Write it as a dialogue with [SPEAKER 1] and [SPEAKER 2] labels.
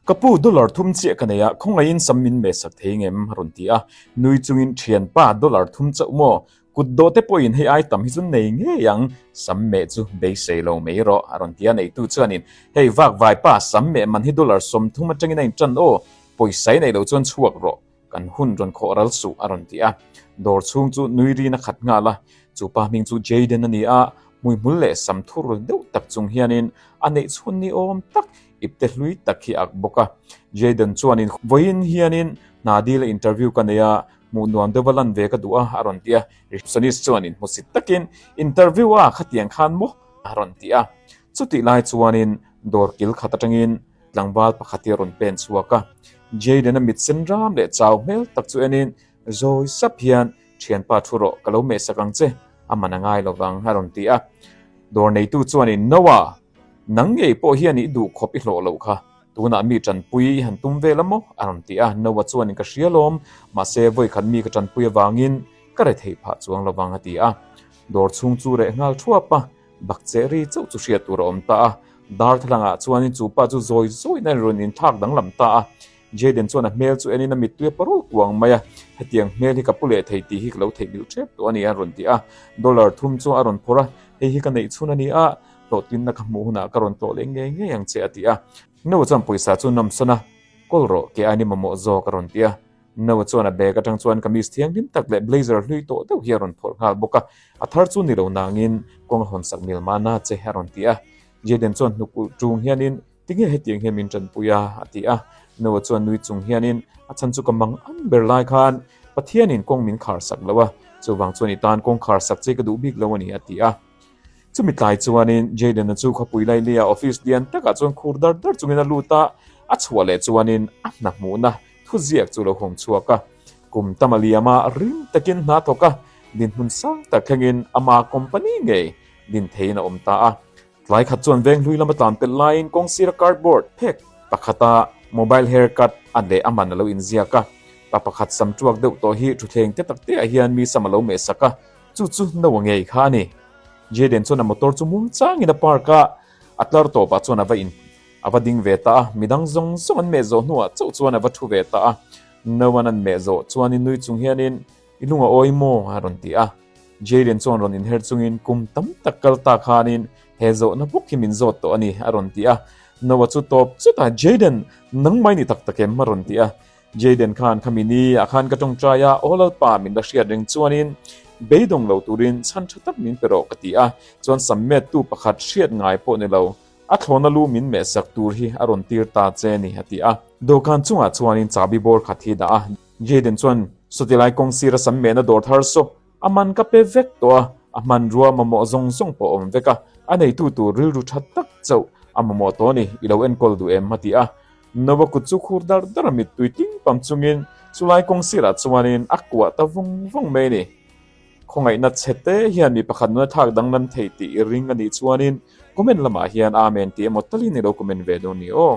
[SPEAKER 1] Ka pu dollar thum chiah ka nei a, khawngaihin sam min meh sak thei ngem? a rawn ti a, nui chungin Thianpa dollar thum chauh maw? Kut dawh te pawhin hei ai tam hi chu nei ngei ang, sam meh chu beisei lo mai rawh, a rawn ti a, neitu chuanin Hei vak vaipa, sam meh man hi dollar sawm thum atangin a intan aw, pawisa i neih loh chuan chhuak rawh, Kan hun rawn khawh ral suh, a rawn ti a. Dawr chhung chu nui rin a khat nghal a. Chu pa hming chu Jayden a ni a, hmuihmul leh sam thur deuh tak chung hianin a neih chhun ni awm tak ipte hlui tak hi a ak bawk a. Jayden chuanin, Vawiin hianin hna dil a interview ka nei a, hmuh nuam deuh a lan ve ka duh a, a rawn ti a. Receptionist chuanin hmusit takin, Interview a, khatiang khan maw? a rawn ti a. Chutih lai chuanin dawr kil khat atangin, Tlangval pakhat hi a rawn pen chhuak a, Jayden a mit sen ram leh chau hmel tak chu enin zawi sap hian, Thianpa thu rawh, ka lo mehsak ang che, a man a ngai lo vang, a rawn ti a. Dawr neitu chuanin, Noa, nang ngei pawh hian i duh khawp i hlawh loh kha, tunah mi tanpui i han tum ve la maw? a rawn ti a. Noa chuanin, Ka hria lawm, mahse vawi khat mi ka tanpui avangin ka re thei phah chuang lo vang, a ti a. Dawr chhung chu reh nghal thuap a. Bak che ri chauh chu hriat tur a awm ta a. Darthlangah chuanin chu pa chu zawi zawiin a rawn in thlak danglam ta a. Jayden chuan a hmel chu en in a mittui a parul kuang mai a. Hetiang hmel hi ka pu leh thei tih hi ka lo theihmilh ṭhep tawh a ni a rawn ti a. Dollar thum chu a rawn phawrh a, hei hi ka neih chhun a ni a, hlawhtlinna ka hmuh hunah ka rawn tlawh leh ngei ngei ang che a ti a. Nova chuan pawisa chu nawmsana kawl rawh, kei a ni mamawh zawk a rawn ti a. Noah chuan a bag atang chuan kamis thianghlim tak leh blazer hlui tawh deuh hi a rawn phawrh nghal bawk a, a thar chu ni lo nangin kawng a hawn sak mil mahna che a rawn ti a. Jaden chuan hnuk ulh ṭung hianin, Tinge hetiang hian min ṭanpui a? a ti a. Noah chuan nui chung hianin, A chhan chu ka mang ang ber lai khan Pathianin kawng min khar sak lo a, chuvang chuan i tan kawng khar sak che ka duh bik lo a ni a ti a. Chumi tlai chuanin Jaden-a chu khawpui lai laia office lian takah chuan khur dar dar chungin a lut a, a chhuah leh chuanin a hna hmuhna thuziak chu a lo hawng chhuak a. Kum tam a liam a, rim takin hna thawk a, dinhmun sang tak thlengin ama company ngei din theiin a awm ta a. Tlai khat chuan veng hlui lama tlan tel laiin kawng sira cardboard phek pakhata mobile hair cut a leh a man a lo inziak a. Pa pakhat sam tuak deuh tawh hi thuthleng te takteah hian mi sam a lo meh sak a. Chu chu no angei kha a ni. Jaden chuan a motor chu muang changin a park a, a tlar tawpah chuan a va in a va ding ve ta a, midang zawng zawng an meh zawh hnuah chauh chuan a va thu ve ta a. No a nan meh zawh chuanin nui chung hianin, I lung a awi maw? a rawn ti a. Jaden chuan rawn inher chungin kum tam tak kal ta khanin, He zawhna bawk hi min zawt tawh a ni, a rawn ti a. No a chu tawp chutah, Jaden, nangmah i ni tak tak em? a rawn ti a. Jayden khan kha min i a khan ka tawngtai a, aw lalpa min la hriat reng chuanin beidawng lo turin chhan tha tak min pe rawh ka ti a, chuan sam mettu pakhat hriat ngai pawh ni lo, a thlawna lu min meh sak tur hi a rawn tir ta che ni a ti a. Dawhkan chungah chuanin chahbi bawr khat hi dah a. Jayden chuan saw tilai kawng sira sam mehna dawr thar saw A man ka pe vek tawh a, a hmanrua mamawh zawng zawng pawh a awm vek a, a neitu tur rilru tha tak chauh a mamawh tawh a ni, i lo enkawl duh em? a ti a. Noah kut chu khur dar dar a mittui ting pam chungin chulai kawng sirah chuanin a kuah ta vawng vawng mai a ni. Khawngaihna che te hian mi pakhat nuna thlak danglam thei tih i ring a nih chuanin comment lamah hian amen tih emaw talin i lo comment ve dawn ni aw.